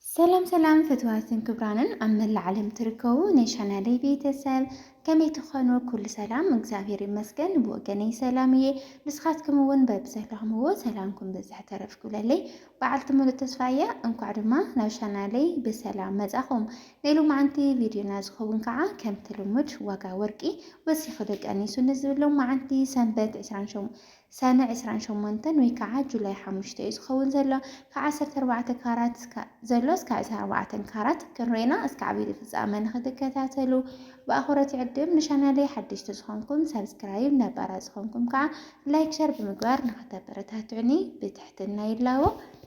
ሰላም ሰላም ፍትዋትን ክብራንን ኣብ መላእ ዓለም ትርከቡ ናይ ቻናለይ ቤተሰብ ከመይ ትኾኑ? ኩሉ ሰላም እግዚኣብሔር ይመስገን ብወገነይ ሰላም እየ። ንስኻትኩም እውን በብዘለኹምዎ ሰላምኩም ብዝሕ ተረፍ ክብለለይ በዓልቲ ሙሉእ ተስፋ እየ። እንኳዕ ድማ ናብ ቻናለይ ብሰላም መጻኹም። ናይ ሎማዓንቲ ቪድዮና ዝኸውን ከዓ ከምቲ ልሙድ ዋጋ ወርቂ ወሲኹ ደቀኒሱ ንዝብል ሎማዓንቲ ሰንበት 27 ሰነ ዕስራን ሸሞንተን ወይ ካዓ ጁላይ ሓሙሽተ እዩ ዝከውን ዘሎ ካብ ዓሰርተ ኣርባዕተ ካራት ዘሎ እስካብ ዕስራን ኣርባዕተን ካራት ክንሬና እስኪ ዓብይዲ ፍፃመ ንክትከታተሉ ብኣክብሮት ይዕድም ንሻናለይ ሓደሽቲ ዝኮንኩም ሳብስክራይብ ነባራት ዝኮንኩም ካዓ ላይክ ሸር ብምግባር ንክተበረታትዑኒ ብትሕትና ይላቦ።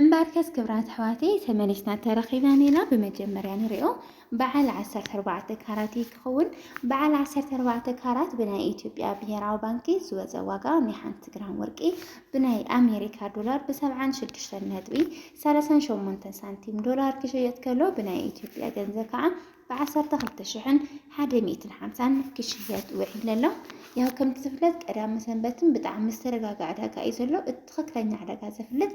እምበኣርከስ ክብራት ኣሕዋተይ ተመሊስና ተረኺብና ኔና ብመጀመርያ ንሪኦ በዓል 14 ካራት እዩ ክኸውን። በዓል 14 ካራት ብናይ ኢትዮጵያ ብሄራዊ ባንኪ ዝወፀ ዋጋ ናይ ሓንቲ ግራም ወርቂ ብናይ ኣሜሪካ ዶላር ብ76 ነጥቢ 38 ሳንቲም ዶላር ክሽየጥ ከሎ ብናይ ኢትዮጵያ ገንዘብ ከዓ ብዓሰርተ ክልተ ሽሕን ሓደ ሚእትን ሓምሳን ክሽየጥ ውዒሉ ኣሎ። ያው ከምቲ ዝፍለጥ ቀዳመ ሰንበትን ብጣዕሚ ዝተረጋግዐ ዕዳጋ እዩ ዘሎ። እቲ ትኽክለኛ ዕዳጋ ዘፍልጥ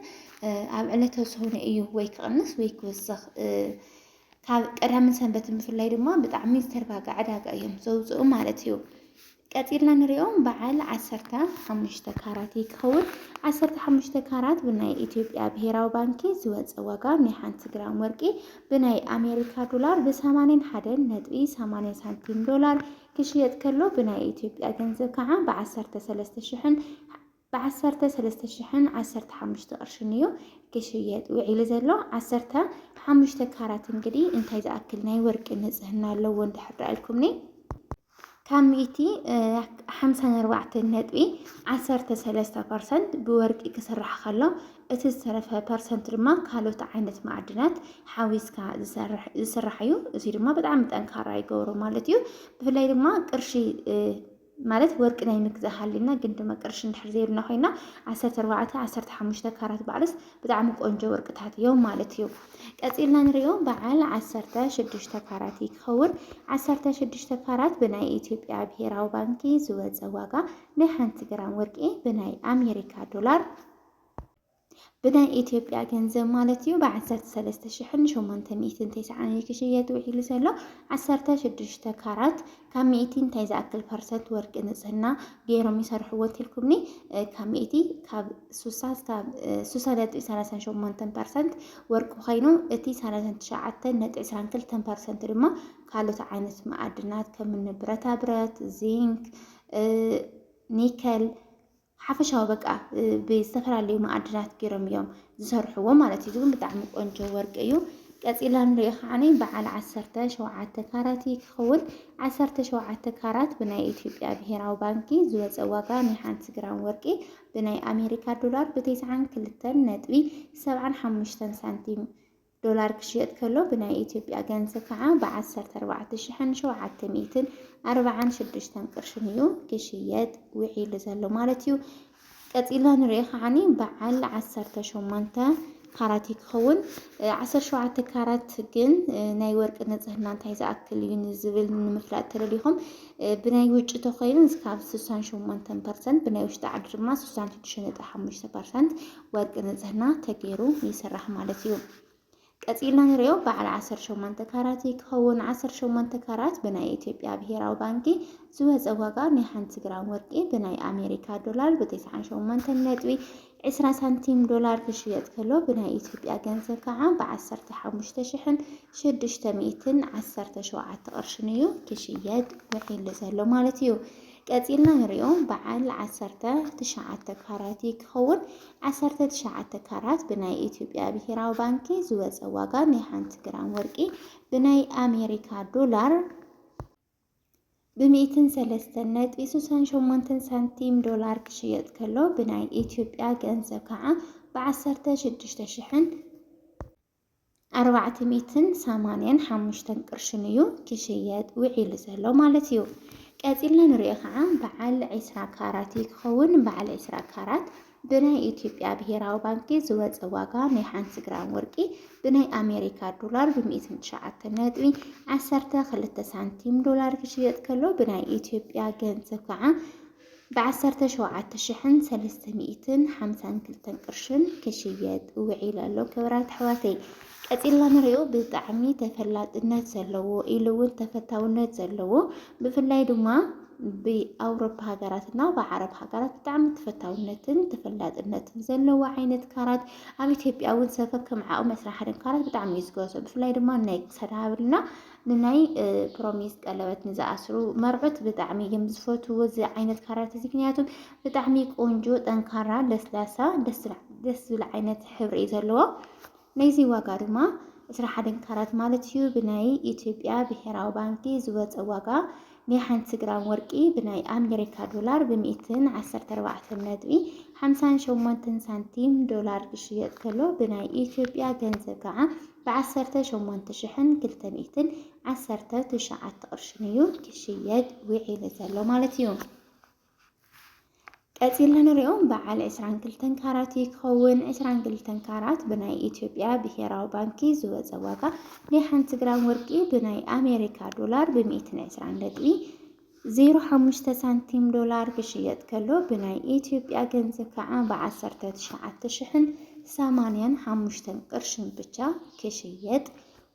ኣብ ዕለተ ሰሁነ እዩ ወይ ክቕንስ ወይ ክውስኽ ካብ ቀዳምን ሰንበትን ብፍላይ ድማ ብጣዕሚ ዝተረጋግዐ ዕዳጋ እዮም ዘውፅኡ ማለት እዩ። ቀጺልና ንሪኦ በዓል ዓሰርተ ሓሙሽተ ካራት እዩ ክኸውን። ዓሰርተ ሓሙሽተ ካራት ብናይ ኢትዮጵያ ብሄራዊ ባንኪ ዝወፀ ዋጋ ናይ ሓንቲ ግራም ወርቂ ብናይ ኣሜሪካ ዶላር ብሰማንያን ሓደን ነጥቢ ሰማንያ ሳንቲም ዶላር ክሽየጥ ከሎ ብናይ ኢትዮጵያ ገንዘብ ከዓ ብዓሰርተ ሰለስተ ሽሕን ብዓሰርተ ሰለስተ ሽሕን ዓሰርተ ሓሙሽተ ቅርሽን እዩ ክሽየጥ ውዒሉ ዘሎ። ዓሰርተ ሓሙሽተ ካራት እንግዲ እንታይ ዝኣክል ናይ ወርቂ ንጽህና ኣለዎ እንድሕር ደኣ ኢልኩምኒ ካብ ሚእቲ ሓምሳን ኣርባዕተን ነጥቢ ዓሰርተ ሰለስተ ፐርሰንት ብወርቂ ክስራሕ ከሎ እቲ ዝተረፈ ፐርሰንት ድማ ካልኦት ዓይነት ማዕድናት ሓዊስካ ዝስራሕ እዩ። እዚ ድማ ብጣዕሚ ጠንካራ ይገብሮ ማለት እዩ። ብፍላይ ድማ ቅርሺ ማለት ወርቂ ናይ ምግዛእ ሃሊና ግን ድማ ቅርሺ እንድሕር ዘይብልና ኮይና ዓሰርተ ኣርባዕተ ዓሰርተ ሓሙሽተ ካራት በዓልስ ብጣዕሚ ቆንጆ ወርቅታት እዮም ማለት እዩ። ቀፂልና ንሪኦ በዓል ዓሰርተ ሽዱሽተ ካራት ይከውን። ዓሰርተ ሽዱሽተ ካራት ብናይ ኢትዮጵያ ብሄራዊ ባንኪ ዝወፀ ዋጋ ናይ ሓንቲ ግራም ወርቂ ብናይ ኣሜሪካ ዶላር ብናይ ኢትዮጵያ ገንዘብ ማለት እዩ ብ ዓሰርተ ሰለስተ ሽሕን ሸሞንተ ሚእትን ተስዓን እዩ ክሽየጥ ውዒሉ ዘሎ። ዓሰርተ ሽዱሽተ ካራት ካብ ሚእቲ እንታይ ዝኣክል ፐርሰንት ወርቂ ንጽህና ገይሮም ይሰርሕዎ እንተልኩምኒ ካብ ሚእቲ ካብ ሱሳ ስካብ ሱሳ ነጥቢ ሰላሳን ሸሞንተን ፐርሰንት ወርቂ ኮይኑ እቲ ሰላሳን ትሽዓተን ነጥቢ ዕስራን ክልተን ፐርሰንት ድማ ካልኦት ዓይነት መኣድናት ከምኒ ብረታ ብረት፣ ዚንክ፣ ኒከል ሓፈሻዊ በቃ ብዝተፈላለዩ መኣድናት ገይሮም እዮም ዝሰርሕዎ ማለት እዩ። እዚ እውን ብጣዕሚ ቆንጆ ወርቂ እዩ። ቀፂልና ንሪኦ ከዓ በዓል ዓሰርተ ሸውዓተ ካራት እዩ ክኸውን። ዓሰርተ ሸውዓተ ካራት ብናይ ኢትዮጵያ ብሄራዊ ባንኪ ዝወፀ ዋጋ ናይ ሓንቲ ግራም ወርቂ ብናይ ኣሜሪካ ዶላር ብቴስዓን ክልተን ነጥቢ ሰብዓን ሓሙሽተን ሳንቲም ዶላር ክሽየጥ ከሎ ብናይ ኢትዮጵያ ገንዘብ ከዓ ብ ዓሰርተ ኣርባዕተ ሽሕን ሸውዓተ ሚእትን ኣርባዓን ሽዱሽተን ቅርሽን እዩ ክሽየጥ ውዒሉ ዘሎ ማለት እዩ። ቀፂልና ንሪኦ ከዓኒ በዓል ዓሰርተ ሸሞንተ ካራት እዩ ክኸውን። ዓሰርተ ሸውዓተ ካራት ግን ናይ ወርቂ ንፅህና እንታይ ዝኣክል እዩ ንዝብል ንምፍላጥ ተደሊኹም ብናይ ውጭ ተኮይኑ እስካብ ስሳን ሸሞንተን ፐርሰንት ብናይ ውሽጢ ዓዲ ድማ ስሳን ሽዱሽተ ነጥቢ ሓሙሽተ ፐርሰንት ወርቂ ንፅህና ተገይሩ ይስራሕ ማለት እዩ። ቀፂልና ንሪኦ በዓል 18 ካራት ይከውን። 18 ካራት ብናይ ኢትዮጵያ ብሄራዊ ባንኪ ዝወፀ ዋጋ ናይ ሓንቲ ግራም ወርቂ ብናይ ኣሜሪካ ዶላር ብ98 ነጥቢ 20 ሳንቲም ዶላር ክሽየጥ ከሎ ብናይ ኢትዮጵያ ገንዘብ ከዓ ብ15617 ቅርሽን እዩ ክሽየጥ ውዒሉ ዘሎ ማለት እዩ። ቀጺልና ንሪኦ በዓል ዓሰርተ ትሽዓተ ካራት እዩ ክኸውን። ዓሰርተ ትሽዓተ ካራት ብናይ ኢትዮጵያ ብሄራዊ ባንኪ ዝወፀ ዋጋ ናይ ሓንቲ ግራም ወርቂ ብናይ ኣሜሪካ ዶላር ብሚእትን ሰለስተን ነጥቢ ሱሳን ሸሞንተን ሳንቲም ዶላር ክሽየጥ ከሎ ብናይ ኢትዮጵያ ገንዘብ ከዓ ብዓሰርተ ሽዱሽተ ሽሕን ኣርባዕተ ሚእትን ሰማንያን ሓሙሽተን ቅርሽን እዩ ክሽየጥ ውዒሉ ዘሎ ማለት እዩ። ቀጺልና ንሪኦ ከዓ በዓል ዒስራ ካራት እዩ ክኸውን። በዓል ዒስራ ካራት ብናይ ኢትዮጵያ ብሄራዊ ባንኪ ዝወፀ ዋጋ ናይ ሓንቲ ግራም ወርቂ ብናይ ኣሜሪካ ዶላር ብሚእትን ትሽዓተ ነጥቢ ዓሰርተ ክልተ ሳንቲም ዶላር ክሽየጥ ከሎ ብናይ ኢትዮጵያ ገንዘብ ከዓ ብዓሰርተ ሸውዓተ ሽሕን ሰለስተ ሚእትን ሓምሳን ክልተን ቅርሽን ክሽየጥ ውዒሉ ኣሎ። ክብራት ኣሕዋተይ ቀጺልና ንሪኦ ብጣዕሚ ተፈላጥነት ዘለዎ ኢሉ እውን ተፈታውነት ዘለዎ ብፍላይ ድማ ብኣውሮፓ ሃገራት እና ብዓረብ ሃገራት ብጣዕሚ ተፈታውነትን ተፈላጥነትን ዘለዎ ዓይነት ካራት ኣብ ኢትዮጵያ እውን ሰፈር ከም ዓቕሚ ዕስራ ሓደን ካራት ብጣዕሚ እዩ ዝገዝኦ ብፍላይ ድማ ናይ ክሳድ ሃብልና ንናይ ፕሮሚስ ቀለበት ንዝኣስሩ መርዑት ብጣዕሚ እዮም ዝፈትዎ እዚ ዓይነት ካራት እዚ ምክንያቱ ብጣዕሚ ቆንጆ ጠንካራ ለስላሳ ደስ ዝብል ዓይነት ሕብሪ እዩ ዘለዎ ናይዚ ዋጋ ድማ ዕስራ ሓደን ካራት ማለት እዩ ብናይ ኢትዮጵያ ብሄራዊ ባንኪ ዝወፀ ዋጋ ናይ ሓንቲ ግራም ወርቂ ብናይ ኣሜሪካ ዶላር ብሚእትን ዓሰርተ ኣርባዕተን ነጥቢ ሓምሳን ሸሞንተን ሳንቲም ዶላር ክሽየጥ ከሎ ብናይ ኢትዮጵያ ገንዘብ ከዓ ብዓሰርተ ሸሞንተ ሽሕን ክልተ ሚእትን ዓሰርተ ትሽዓተ ቅርሽን እዩ ክሽየጥ ዊዒሉ ዘሎ ማለት እዩ። ቀጺልና ንሪኦ በዓል ዕስራን ክልተን ካራት እዩ ክኸውን። ዕስራን ክልተን ካራት ብናይ ኢትዮጵያ ብሄራዊ ባንኪ ዝወጸ ዋጋ ናይ ሓንቲ ግራም ወርቂ ብናይ ኣሜሪካ ዶላር ብሚእትን ዕስራን ነጥቢ ዜሮ ሓሙሽተ ሳንቲም ዶላር ክሽየጥ ከሎ ብናይ ኢትዮጵያ ገንዘብ ከዓ ብ ዓሰርተ ትሽዓተ ሽሕን ሰማንያን ሓሙሽተን ቅርሽን ብቻ ክሽየጥ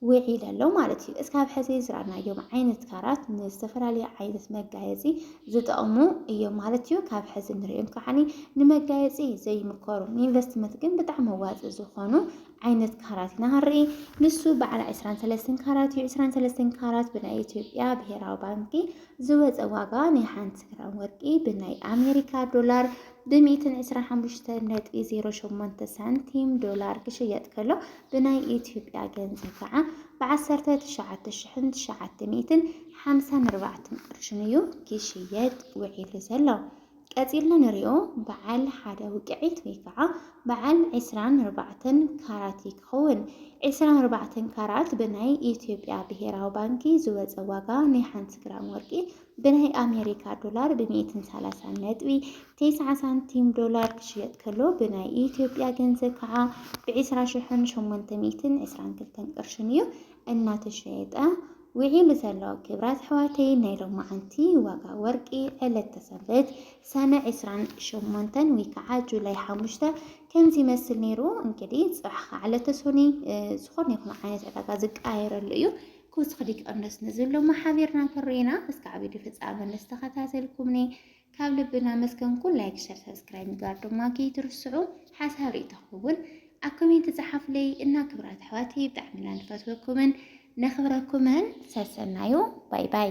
ውዒሉ ኣሎ ማለት እዩ። እስካብ ሕዚ ዝረኣናዮም ዓይነት ካራት ንዝተፈላለየ ዓይነት መጋየፂ ዝጠቕሙ እዮም ማለት እዩ። ካብ ሕዚ ንሪኦም ከዓ ንመጋየፂ ዘይምከሩ ንኢንቨስትመንት ግን ብጣዕሚ መዋፂ ዝኾኑ ዓይነት ካራት ኢና ክንርኢ። ንሱ በዓል ዕስራን ሰለስተን ካራት እዩ። ዕስራን ሰለስተን ካራት ብናይ ኢትዮጵያ ብሄራዊ ባንኪ ዝወፀ ዋጋ ናይ ሓንቲ ግራም ወርቂ ብናይ ኣሜሪካ ዶላር ብሚእትን ዕስራን ሓሙሽተን ነጥቢ ዜሮ ሸሞንተ ሳንቲም ዶላር ክሽየጥ ከሎ ብናይ ኢትዮጵያ ገንዘብ ከዓ ብዓሰርተ ትሽዓተ ሽሕን ትሽዓተ ሚእትን ሓምሳን ኣርባዕተን ቅርሽን እዩ ክሽየጥ ውዒሉ ዘሎ። ቀጺልና ንሪኦ በዓል ሓደ ውቅዒት ወይ ከዓ በዓል ዕስራን ኣርባዕተን ካራት እዩ ክኸውን። ዕስራን ኣርባዕተን ካራት ብናይ ኢትዮጵያ ብሄራዊ ባንኪ ዝወፀ ዋጋ ናይ ሓንቲ ግራም ወርቂ ብናይ ኣሜሪካ ዶላር ብሚእትን ሰላሳን ነጥቢ ቴስዓ ሳንቲም ዶላር ክሽየጥ ከሎ ብናይ ኢትዮጵያ ገንዘብ ከዓ ብዕስራ ሽሕን ሸሞንተ ሚእትን ዕስራን ክልተን ቅርሽን እዩ እናተሸየጠ ዊዒሉ ዘሎ ክብራት ኣሕዋተይ ናይ ሎማዓንቲ ዋጋ ወርቂ ዕለተ ሰንበት ሰነ ዕስራን ሸሞንተን ወይ ከዓ ጁላይ ሓሙሽተ ከምዚ ይመስል ነይሩ እንግዲ ፅባሕ ከዓ ዕለተ ሶኒ ዝኾነ ይኹን ዓይነት ዕዳጋ ዝቀያየረሉ እዩ ክውስኽ ዲቀንዶስ ንዝብሎ ማሓቢርና ክንሪኢና እስካዕ ቪድዮ ፍፃመ ንስተኸታተልኩምኒ ካብ ልቢ እናመስገንኩ ላይክ ሸር ሰብስክራይብ ምግባር ድማ ከይትርስዑ ሓሳብ ርእይቶኹም እውን ኣብ ኮሜንት ጸሓፉለይ እና ክብራት ኣሕዋተይ ብጣዕሚ እና ንፈትወኩምን ነኽብረኩምን ሰሰናዩ ባይ ባይ